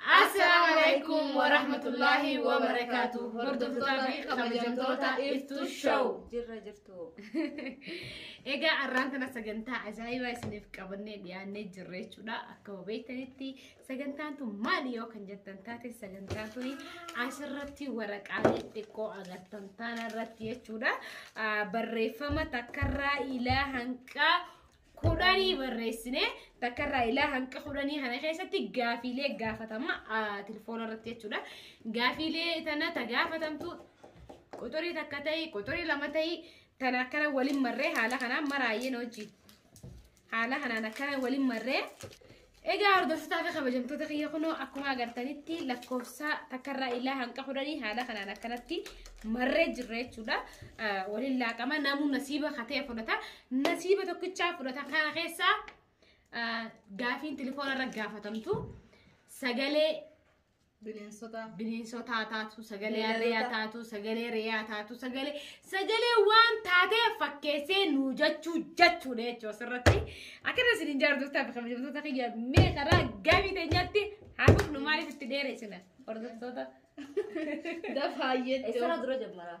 Assalaamu alaikum wa rahmatullahi wa barakaatu. Hordoftoota fi kabajamtoota Iftuu Show. Jirra jirtu. Egaa arraan tana sagantaa ajaa'ibaa isiniif qabannee dhiyaannee jirra jechuudha. Akkuma beektanitti sagantaan tun maali yoo kan jettan taate sagantaan tun asirratti waraqaalee xiqqoo agartan taana irratti jechuudha. Ah, Barreeffama takkarraa ilaa hanqaa kudhanii barreessine takkarraa ilaa hanqa kudhanii kana keessatti gaafiilee gaafatama telefoona irratti jechuudha. Gaafiilee tana ta gaafatamtu quxurii takka ta'i quxurii lama ta'i tana akkana waliin marree haala kanaan maraayeen hojii. Haala kanaan akkana waliin marree Egaa hordoftotaa fi kabajamtoota kiyya kunoo akkuma agartanitti lakkoofsa takkarraa illaa hanqa kudhanii haala kanaan akkanatti marree jirra jechuudha. Ah, Waliin laaqama namuu nasiiba katee fudhata. Nasiiba tokkichaa fudhata kana keessaa ah, gaafiin telefoonarra gaafatamtu sagalee Bineensota. bineensotaa taatu sagalee Beelladoota. harreeyaa taatu sagalee reeyaa taatu sagalee sagalee waan taatee fakkeessee nuu jechuu jechuudha jechuu asirratti akkana isin hin jaardotaa kabajamtoota kiyya mee karaa gamii teenyatti haa dhufnu maaliif itti dheereessina hordoftoota Dafaa jechuun. Eessarraa dura jammara?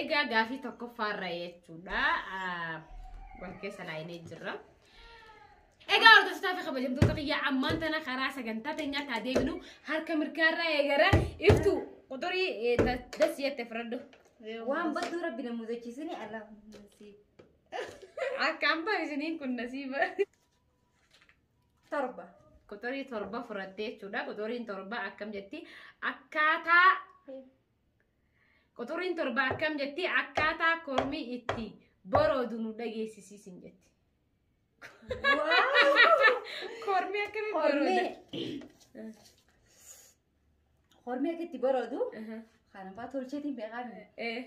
Egaa gaafii tokkoffaarra jechuudha. Wal keessa laayinee jirra. Egaa hordoftoota fi kabajamtoota kiyyaa ammaan tana karaa sagantaa teenyaa taa deebinu harka mirgaarraa eegara iftu quxurii das jette firadhu. Waan badduu rabbi na mudachiisini Allahumma siif. Akka ambaa isiniin kun nasiiba. torba quxurii torba furattee jechuudha quxuriin torba akkam jetti akkaataa quxuriin torba akkam jetti akkaataa kormii itti boroodu nu dhageessisiisin jetti kormii akkamii borooda Hormee akka itti baroodu Aha. kanafaa tolcheetiin beekaan Eh,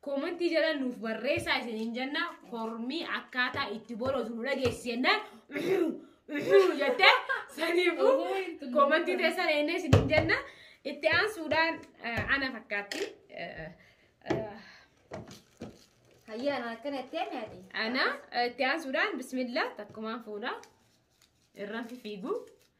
Koomantii jala nuuf barreessaa isiniin jenna kormii akkaataa itti borootu nu dhageessi jennaan jette saniifu koomantii teessan eennee isiniin jenna itti aansuudhaan eh, ana fakkaatti eh, eh, Hayyaan akkana itti aanne ati. ana eh, itti aansuudhaan bismillah takkumaan fuudha irraan fifiigu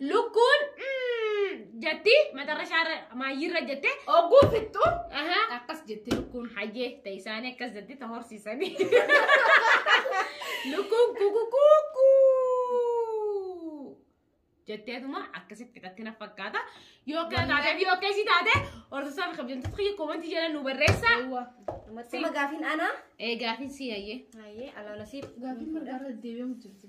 Lukkuun mm, jetti matarra shaarra maayyiirra jette. Ogguu fixxu Ahaa. akkas jetti lukkuun. Hayyee ta'e isaanii akkas jetti ta horsiisanii. Lukkuun kukukuukuu. Jetteetuma akkasitti fixatti na fakkaata. Yoo akka taatee fi yoo akka isii taate horsiisaa fi kabajamtoota kiyya koomantii jala nu barreessa. Yawwa. Mattuma gaafiin anaa. Ee gaafiin si hayyee. Hayyee alaala siif. Gaafiin mirgaarra deebi'amu jirti.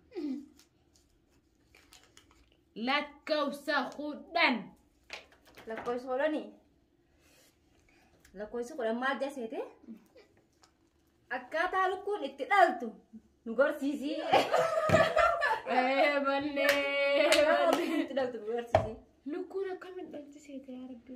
Lakkoofsa kudhan. Lakkoofsi kudhanii. Lakkoofsi kudhan maal jaseete? Akkaataa lukkuun itti dhaltu nu gorsiisii. Ee mallee. Akkaataa lukkuun itti dhaltu nu gorsiisii. Lukkuun akkamiin dhalti seete yaa rabbi.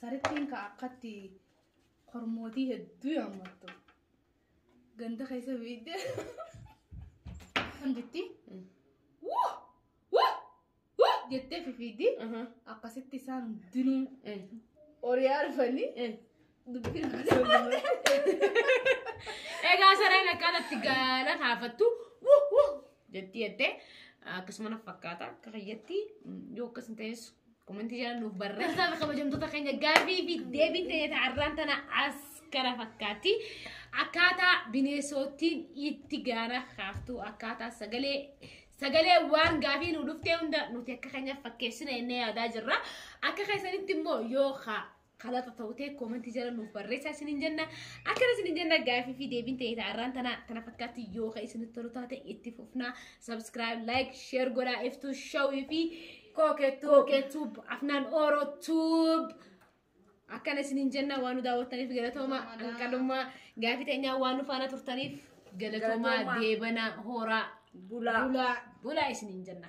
Sarittiin ka akkatti kormootii hedduu yaammattu. Ganda keessa beekte. Kan jetti. Woo! Woo! Woo! jettee fifiiddi. Akkasitti isaan hundinuu horiyaa dhufanii Egaa sareen akkaataa itti gaala taafattu wuh wuh jettii jettee akkasuma na fakkaata akka fayyatti yoo akkas hin ta'es komentii jala nuuf barreessaa fi kabajamtoota keenya gaaffii fi deebii ta'ee ta'arraan tana as kana fakkaatti akkaataa bineensottiin itti gaala kaaftu akkaataa sagalee sagalee waan gaafii nu dhuftee hunda nuti akka keenyaaf fakkeessina jennee yaadaa jirra akka keessanitti immoo yoo haa Kalata ta'uu ta'e koomantii jala nuuf barreessaa isiniin jenna. Akkana isiniin jenna gaafii fi deebiin ta'e ta'arraan tana tana fakkaatti yoo ka isinitti tolu taate itti fufnaa. Subscribe, like, share godhaa iftuu shawii fi Kookettuu. kookettuub afnaan ooroo tuub. Akkana isiniin jenna waan nu daawwattaniif galatooma hanqalummaa gaafii teenyaa waan nu faana turtaniif galatoomaa Galatoomaa. deebanaa hooraa Bulaa. Bulaa. bulaa isiniin jenna.